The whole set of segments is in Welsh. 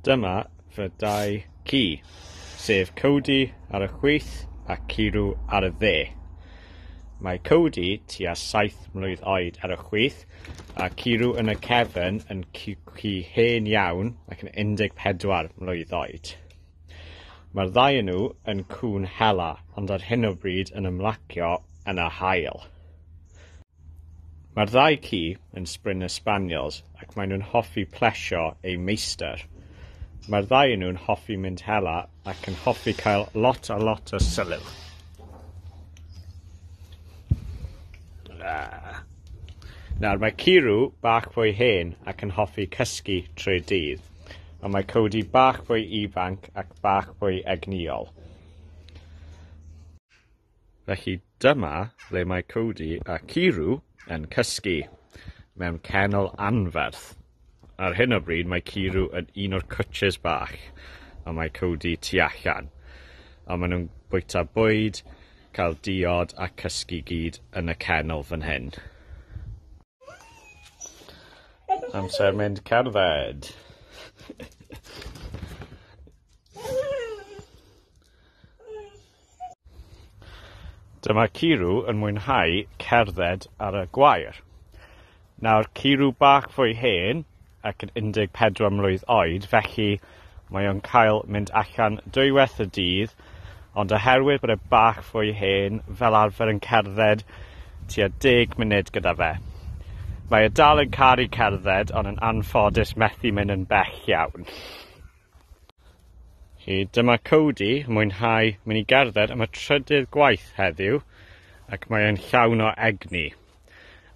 Dyma fy dau ci, sef Cody ar y chwith a Ciru ar y dde. Mae Cody tua 7 mlwydd oed ar y chwith a Ciru yn y cefn yn ci hen iawn ac yn 14 mlwydd oed. Mae'r ddau yn nhw yn cŵn hela ond ar hyn o bryd yn ymlacio yn y hael. Mae'r ddau ci yn Springer Spaniels ac maen nhw'n hoffi plesio eu meistr. Mae'r ddau o nhw'n hoffi mynd hela ac yn hoffi cael lot a lot o sylw. Nawr, mae Ciru bach fwy hen ac yn hoffi cysgu trwy dydd, ond mae Cody bach fwy ifanc ac bach fwy egnïol. Felly dyma le mae Cody a Ciru yn cysgu, mewn kennel anferth. Ar hyn o bryd mae Ciru yn un o'r cwtshys bach a mae Cody tu allan, a maen nhw'n bwyta bwyd, cael diod a cysgu gyd yn y kennel fan hyn. Amser mynd cerdded! Dyma Ciru yn mwynhau cerdded ar y gwair. Nawr Ciru bach fwy hen ac yn 14 mlwydd oed felly mae o'n cael mynd allan dwywaith y dydd ond oherwydd bod e bach fwy hen fel arfer yn cerdded tua 10 munud gyda fe. Mae e dal yn caru cerdded ond yn anffodus methu mynd yn bell iawn. Hi, dyma Cody, mwynhau mynd i gerdded am y trydydd gwaith heddiw ac mae e'n llawn o egni.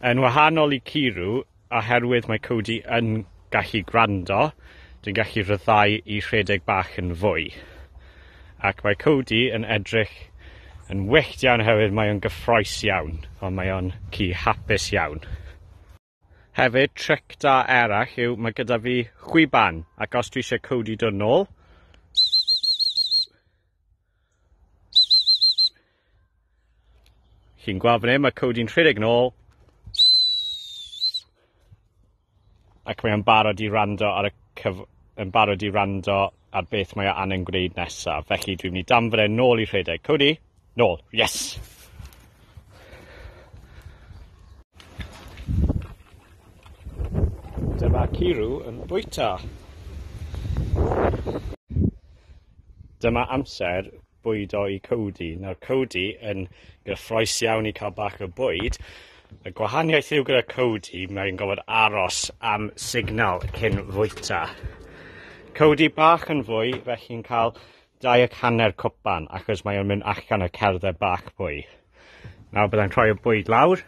Yn wahanol i Kiru, oherwydd mae Cody yn gallu gwrando, dwi'n gallu rhyddhau i rhedeg bach yn fwy. Ac mae Cody yn edrych yn wyllt iawn oherwydd mae o'n gyffroes iawn, ond mae o'n ci hapus iawn. Hefyd, tric da arall yw, mae gyda fi chwiban, ac os dwi eisiau codi dod nôl, chi'n gweld fan hyn, mae codi'n rhedeg nôl, ac mae'n barod i rando ar y cyf... yn barod i rando ar beth mae o angen gwneud nesaf. Felly dwi'n mynd i danfod e nôl i rhedeg. Cody, nôl, yes! Dyma Ciru yn bwyta. Dyma amser bwydo i Cody. Nawr Cody yn gyffroes iawn i cael bach o bwyd. Y gwahaniaeth yw gyda Cody, mae'n gofod aros am signal cyn fwyta. Cody bach yn fwy, felly'n cael dau ac hanner cwpan, achos mae'n mynd allan o cerdded bach pwy. Nawr byddai'n rhoi y bwyd lawr,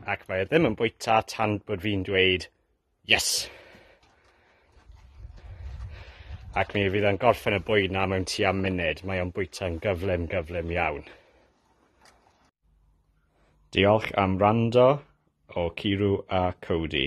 ac mae e ddim yn bwyta tan bod fi'n dweud Yes! Ac mi fydd yn gorffen y bwyd na mewn tua munud. Mae o'n bwyta'n gyflym, gyflym iawn. Diolch am rando o Ciru a Cody.